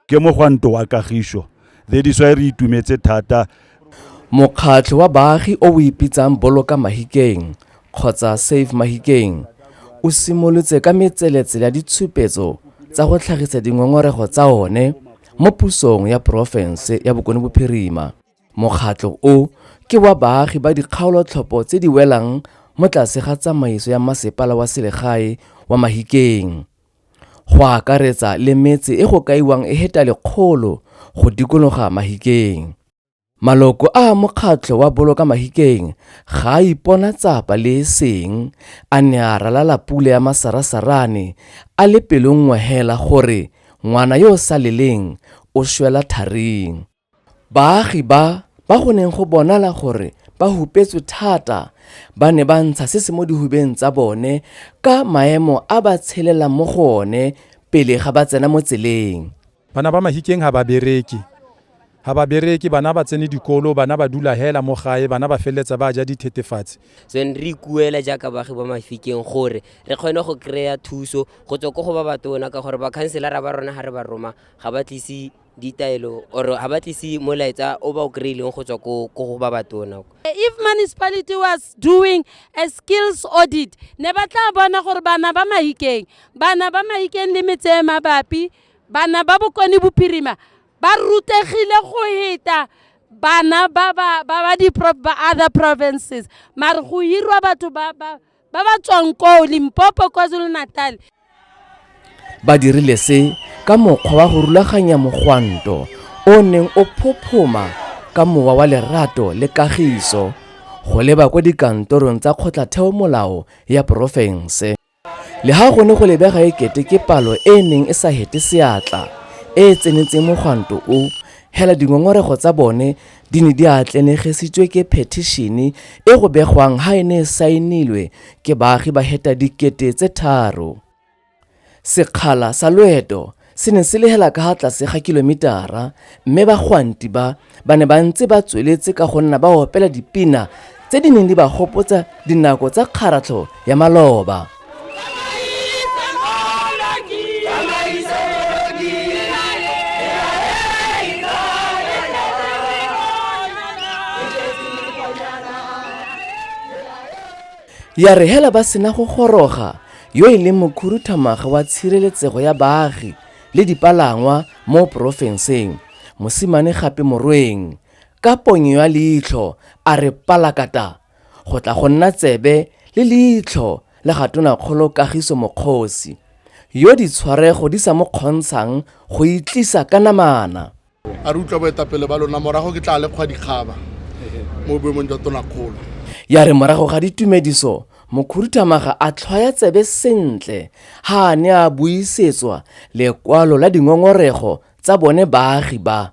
ke mogwanto wa kagišo that is why re itumetse thata mokgatlho wa baagi o o ipitsang boloka mahikeng kgotsa save mahikeng o simolotse ka metseletsele ya ditshupetso tsa go tlhagisa dingongorego tsa one mo pusong ya porofense ya bokone bophirima mokgatlho o ke wa baagi ba dikgaolotlhopho tse di welang mo tlase ga tsamaiso ya masepala wa selegae wa mahikeng go akaretsa le metse e go kaiwang e heta lekgolo go dikologa Mahikeng. Maloko a mokgatlho wa Boloka Mahikeng ga a ipona tsapa le e seng a ne a ralala pula ya masarasarane a le pelonngwe hela gore ngwana yo o sa leleng o shwela tharing. Baagi ba ba go neng go bonala gore ba hupetswe thata ba ne ba ntsha se se mo dihubeng tsa bone ka maemo a ba tshelelang mo go one pele ga ba tsena mo tseleng. Bana ba Mahikeng ga ba bereke. Ga ba bereke, bana ga ba tsene dikolo, bana ba dula hela mo gae, bana ba feleletsa ba ja dithetefatsi. So re ikuela jaaka baagi ba Mafikeng gore re kgone go kry-a thuso go tswa ko go ba batona ka gore bakhanselara ba rona ga re ba roma ga ba tlise ditaelo or ha ba tlise molaetsa o ba o kry-ileng go tswa ko go ba batona if municipality was doing a skills audit ne ba tla bona gore bana ba mahikeng bana ba mahikeng le metse e mabapi bana ba bokone bophirima ba rutegile go heta bana ba ba ba ba di ba other provinces mare go hirwa batho ba ba ba ba tswang koo limpopo kwazulu-natal ba dirile se ka mokgwa wa go rulaganya mogwanto o neng o phophoma ka mowa wa lerato le kagiso go leba kwa dikantorong tsa kgotlatheo molao ya porofense le ga gone go lebega e kete ke palo e e neng e sa hete seatla e e tsenetseng mogwanto o hela dingongorego tsa bone di ne di atlenegesitswe ke phethishene e go begwang ha e ne e saenilwe ke baagi ba heta dikete tse tharo sekgala sa loeto se ne se lehela ka ha tlase ga kilomitara mme bagwanti ba ba ne ba ntse ba tsweletse ka go nna ba opela dipina tse di neng di ba gopotsa dinako tsa kgaratlho ya maloba ya re hela ba sena go goroga yo e leng mokhuruthamaga wa tshireletsego ya baagi le dipalangwa mo porofenseng mosimane gape morweng ka ponyo ya leitlho a re palakata go tla go nna tsebe le leitlho la ga Tonakgolo Kagiso Mokgosi, yo ditshwarego di sa mo kgontshang go itlisa ka namana. A re utlwa boetapele ba lona, morago ke tla le kgwa dikgaba mo boemong jwa Tonakgolo. Ya re morago ga ditumediso Mokhuduthamaga a tlhwaya tsebe sentle ha a ne a buisetswa lekwalo la dingongorego tsa bone baagi ba.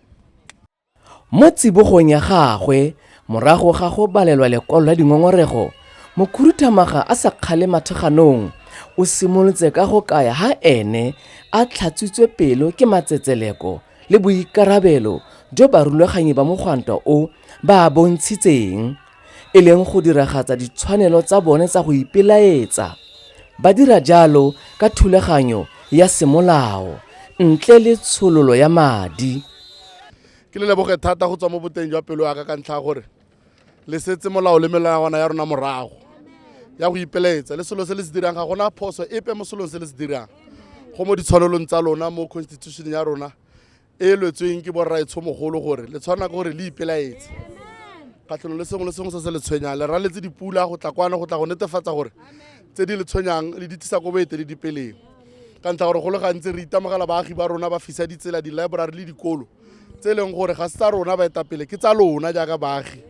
Mo tsibogong ya gagwe morago ga go balelwa lekwalo la dingongorego, Mokhuduthamaga a sa kgale mathekganong o simolotse ka go kaya ha ene a tlhatswitswe pelo ke matsetseleko le boikarabelo jo barulaganyi ba mogwanto o ba a bontshitseng e leng go diragatsa ditshwanelo tsa bone tsa go ipelaetsa ba dira jalo ka thulaganyo ya semolao ntle le tshololo ya madi ke le leboge thata go tswa mo boteng jwa pelo ya ka ka ntlha ya gore le setse molao le melawana ya rona morago ya go ipelaetsa le selo se le se dirang ga gona phoso epe mo selong se le se dirang go mo ditshwanelong tsa lona mo constitution ya rona e lwetsweng ke borraetshomogolo gore le tshwana ke gore le ipelaetse kgatlhanong le sengwe le sengwe se se le tshwenyang le raletse dipula go tla kwana go tla go netefatsa gore tse di le tshwenyang le di tlisa ko boeteledipeleng ka ntlha gore go le gantsi re itemogela baagi ba rona ba fisa ditsela di-library le dikolo tse e leng gore ga se tsa rona baetapele ke tsa lona jaaka baagi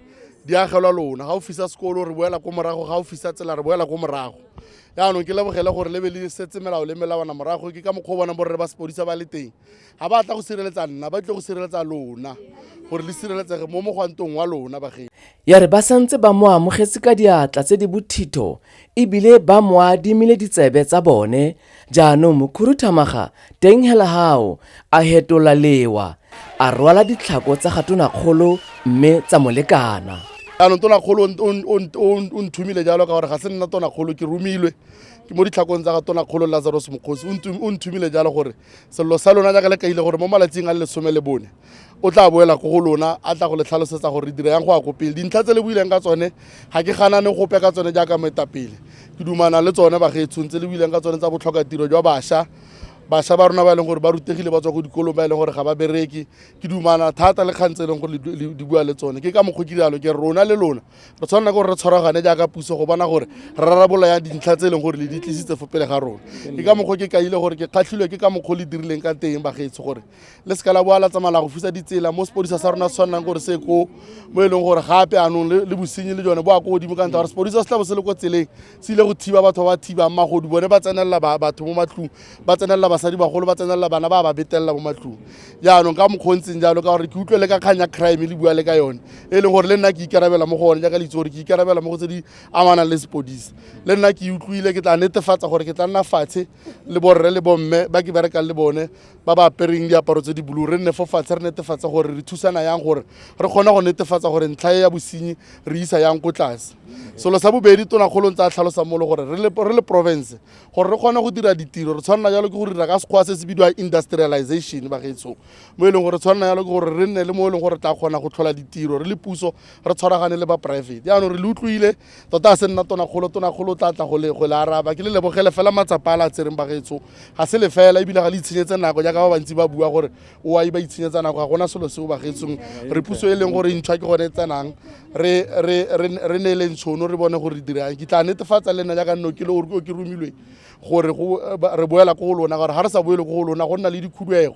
di agelwa lona ga o fisa sekolo re boela ko morago ga o fisa tsela re boela ko morago yaanong ke lebogele gore le be le setse melao le melawana morago ke ka mokgwa o bona borre ba sepodisa ba le teng ga ba tla go sireletsa nna ba tle go sireletsa lona gore le sireletsege mo mogwantong wa lona bagedi ya re ba santse ba mo amogetse ka diatla tse di bothitho ebile ba mo adimile ditsebe tsa bone jaanong mokhuruthamaga teng hela gago a hetola lewa a rwala ditlhako tsa gatonakgolo mme tsa molekana jaanong tonakgolo o nthumile jalo ka gore ga se nna tonakgolo ke romilwe ke mo ditlhakong tsa ga tonakgolo lazarus mokgosi o nthumile jalo gore sello sa lona jaaka le kaile gore mo malatsing a le lesome le bone o tla boela ko go lona a tla go le tlhalosetsa gore dira yang go ya ko pele dintlha tse le buileng ka tsone ga ke ganane gope ka tsone jaaka moetapele ke dumana le tsone bagetshong tse le buileng ka tsone tsa botlhoka tiro jwa bašwa bašwa ba rona ba e leng gore ba rutegile ba tswa ko dikolong ba e leng gore ga ba bereke ke dumana thata le kgang tse e leng gore di bua le tsone ke ka mokgwa ke jalo ke rona le lona re tshwanela gore re tshwaragane jaaka puso go bona gore re rarabola ya dintlha tse e leng gore le di tlisitse fo pele ga rona ke ka mokgwa ke kaile gore ke kgatlhilwe ke ka mokgwa le dirileng ka teng bagetso gore le seka la boa la tsamaya la go fusa ditsela mo sepodisa sa rona se tshwanang gore se ko mo e leng gore gape anong le bosenyi le jone bo a ko godimo ka ntlha gore sepodisa se tla bo se le ko tseleng tsile go thiba batho ba ba thibang magodu bone ba tsenelela batho mo matlong ba tsenelela basadi bagolo ba tsenelela bana ba ba betelela mo matlong jaanong ka mokgwa o ntseng jalo ka gore ke utlwe le ka kgang ya crime le bua le ka yone e leng gore le nna ke ikarabela mo go one jaaka le itse gore ke ikarabela mo go tse di amanang le sepodisa le nna ke utlwile ke tla netefatsa gore ke tla nna fatshe le borre le bomme ba ke berekang le bone ba ba apereng diaparo tse di bulu re nne fo fatshe re netefatsa gore re thusana yang gore re kgone go netefatsa gore ntlha e ya bosenyi re isa yang ko tlase selo sa bobedi tonakgolong tsa tlhalosa molo gore re le province gore re kgone go dira ditiro re tshwanela jalo ke go dira ka sekgwa se se bidiwa industrialization bagetshong mo e leng gore tshwanela jalo ke gore re nne le mo e leng gore tla kgona go tlhola ditiro re le puso re tshwaragane le ba private jaanong re le utlwile tota a se nna tonakgolo tonakgolo o tla tla go le araba ke le lebogele fela matsapa a la tsereng bagetshong ga se le fela ebile ga le itshenyetse nako jaaka ba bantsi ba bua gore o a e ba itshenyetsa nako ga gona selo seo bagetsong re puso e leng gore ntšhwa ke gone e tsenang re neele ntshono re bone gore re dirang ke tla netefatsa le nna jaaka nno ke le o ke romilwe gore re boela ko go lona gore ga re sa boele ko go lona go nna le dikhuduego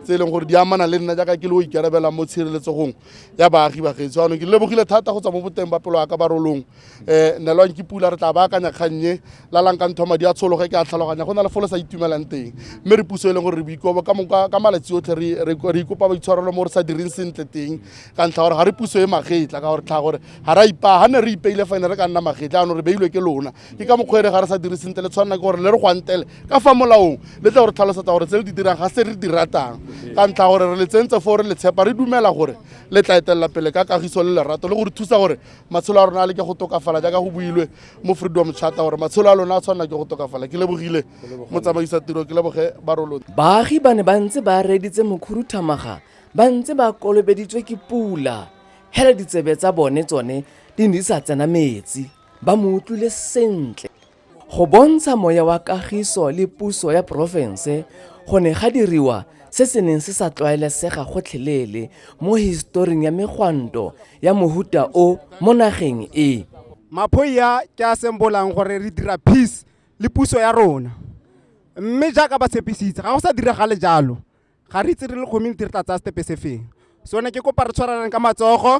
tse e leng gore di amana le nna jaaka ke le o ikarabelang mo tshireletsegong ya baagi bagetso anong ke lebogile thata go tswa mo boteng ba pelo ya ka barolong um nelwang ke pula re tla baakanya kgannye lalang ka ntho madi a tshologe ke a tlhaloganya go na le fo le sa itumelang teng mme re puso e leng gore re boikobo ka malatsi otlhe re ikopa boitshwarelo mo re sa direng sentle teng ka ntlha gore ga re puso e magetla ka gore tlhaga gore ga ra ipaa ga ne re ipeile fa ne re ka nna magetla anong re beilwe ke lona ke ka mokgwa e re ga re sa dire sentle le tshwanela ke gore le re gwantele ka fa molaong le tla gore tlhalosetsa gore tse le di dirang ga se re di ratang ka ntlha gore re le tsentse foo re le tshepa re dumela gore le tla etelela pele ka kagiso le lerato le gore thusa gore matshelo a rona a le ke go tokafala jaaka go builwe mo freedom charter gore matshelo a lona a tshwanela ke go tokafala ke lebogile motsamaisa tiro ke leboge barolo baagi ba ne ba ntse ba reeditse mokhuruthamaga ba ntse ba kolobeditswe ke pula hele ditsebe tsa bone tsone di ne di sa tsena metsi ba mo utlwile sentle Go bontsha moya wa kagiso le puso ya porofense go ne ga diriwa se se neng se sa tlwaelesega gotlhelele mo historing ya megwanto ya mohuta o mo nageng e. Maphoia ke a sembolang gore re dira peace le puso ya rona. Mme jaaka ba tshepisitse, ga go sa diragale jalo. Ga re itse re le community re tla tsaya setepe se feng. So ne ke kopa re tshwarelane ka matsogo.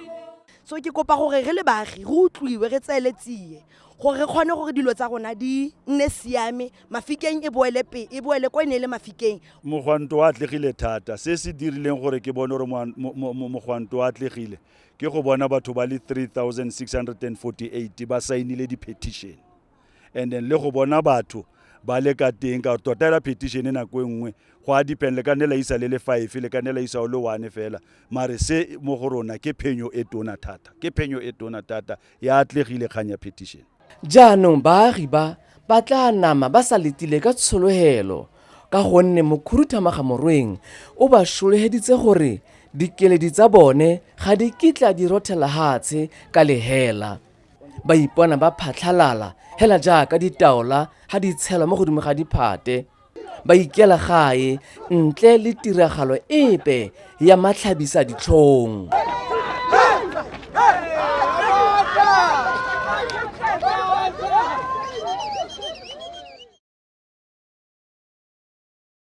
so ke kopa gore re le baagi re utlwiwe re tseele tsie gore re kgone gore dilo tsa rona di nne siame mafikeng e boele pe e boele ko e ne e le mafikeng mogwanto wa atlegile thata se se dirileng gore ke bone gore mogwanto wa atlegile ke go bona batho ba le 3648 ba saenile di-petition and then le go bona batho ba le ka teng ka tota ela petition e nako e nngwe go a depend le ka nne la isa le le five le ka nne la isa o le one fela mare se mo go rona ke phenyo e tona thata ke phenyo e tona thata ya atlegile kgang ya petition jaanong baagi ba ba tla nama ba sa letile ka tshologelo ka gonne mokhuruthamaga morweng o ba šolegeditse gore dikeledi tsa bone ga di kitla di rothela hatshe ka lehela Ba ipona ba phatlhalala hela jaaka ditaola ha di tshelwa mo godimo ga diphate. Ba ikela gae ntle le tiragalo epe ya matlhabisa ditlhong.